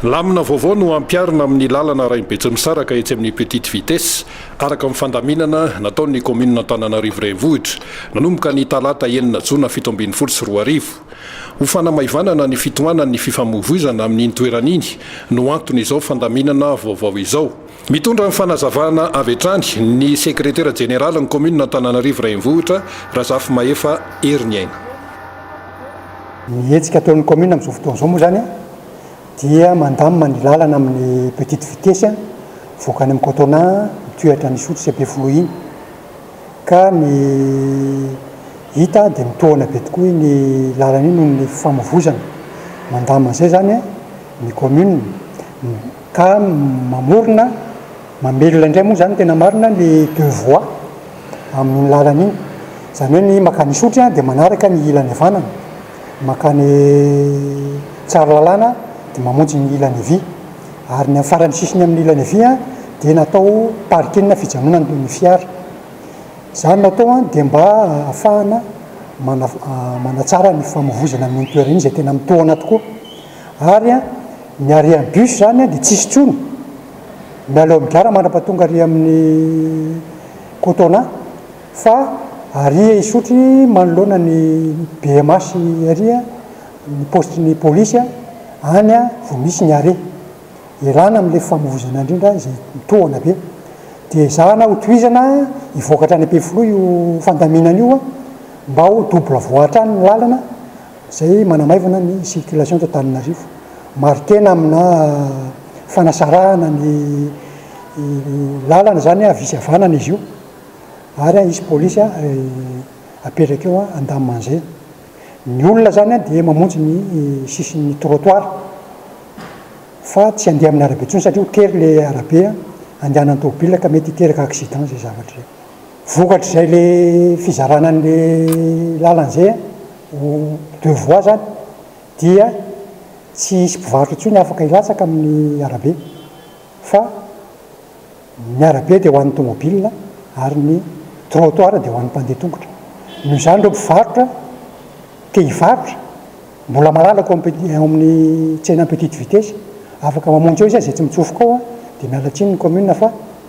Lamina vaovao no hampiharina amin'ny lalana Rainy Betsimisaraka etsy amin'ny Petite Vitesse, araka ny fandaminana nataon'ny kaominina Antananarivo Renivohitra, nanomboka ny talata enina jona fito ambin'ny folo sy roa arivo. Ho fanamaivanana ny fitohanan'ny fifamoivoizana amin'iny toerana iny no anton'izao fandaminana vaovao izao. Mitondra ny fanazavana avy hatrany ny sekretera jeneralin'ny kaominina Antananarivo Renivohitra, Razafimahefa Heriniaina. Ny hetsika ataon'ny kaominina amin'izao fotoana izao moa izany dia mandamina ny lalana amin'ny petite vitesse mivoaka any amin'ny Cotonà mitohy hatrany Isotry sy Ampefiloha iny. Ka ny hita dia mitohana be tokoa iny lalana iny noho ny fifamoivoizana. Mandamina izay izany ny kaominina. ka mamorona, mamelona indray moa izany tena marina ny deux voies amin'iny lalana iny, izany hoe ny mankany Isotry dia manaraka ny ilany havanana, mankany Tsaralalàna dia mamonjy ny ilany havia, ary ny amin'ny faran'ny sisiny amin'ny ilany havia dia natao parking na fijanonana ny fiara. Izany natao dia mba ahafahana manatsara ny famovoizana amin'iny toerana iny izay tena mitohana tokoa. Ary an, ny harian'ny bus izany an dia tsy hisy intsony. Mialao amin'ny gara mandrapatonga ary amin'ny Cotona fa ary Isotry manoloana ny BMH ary ny poste ny polisy an, any vao misy ny arret. Erana amin'ilay famoizana indrindra izay mitohana be. Dia ezahana ho tohizana hivoaka hatrany Ampefiloha io fandaminana io an, mba ho double voie hatrany ny lalana. izay manamaivana ny circulation eto Antananarivo. Mari-tena aminà fanasarahana ny làlana izany havia sy havanana izy io, ary hisy polisy apetraka eo an-daman'izay. Ny olona izany dia mamonjy ny sisin'ny trottoir, fa tsy handeha amin'ny arabe intsony satria ho tery ilay arabe andehanan'ny tômôbilina ka mety hiteraka accident izay zavatra izay. Vokatr'izay ilay fizarana an'ilay làlana izay. Ny deux voies izany dia tsy hisy mpivarotra intsony afaka hilatsaka amin'ny arabe fa ny arabe dia ho an'ny tomobilina ary ny trottoir dia ho an'ny mpandeha tongotra. Noho izany ireo mpivarotra te hivarotra mbola malalako eo amin'ny eo amin'ny tsenan'ny petite vitesse afaka mamonjy eo izay izay tsy mitsofoka ao dia miala tsiny ny commune fa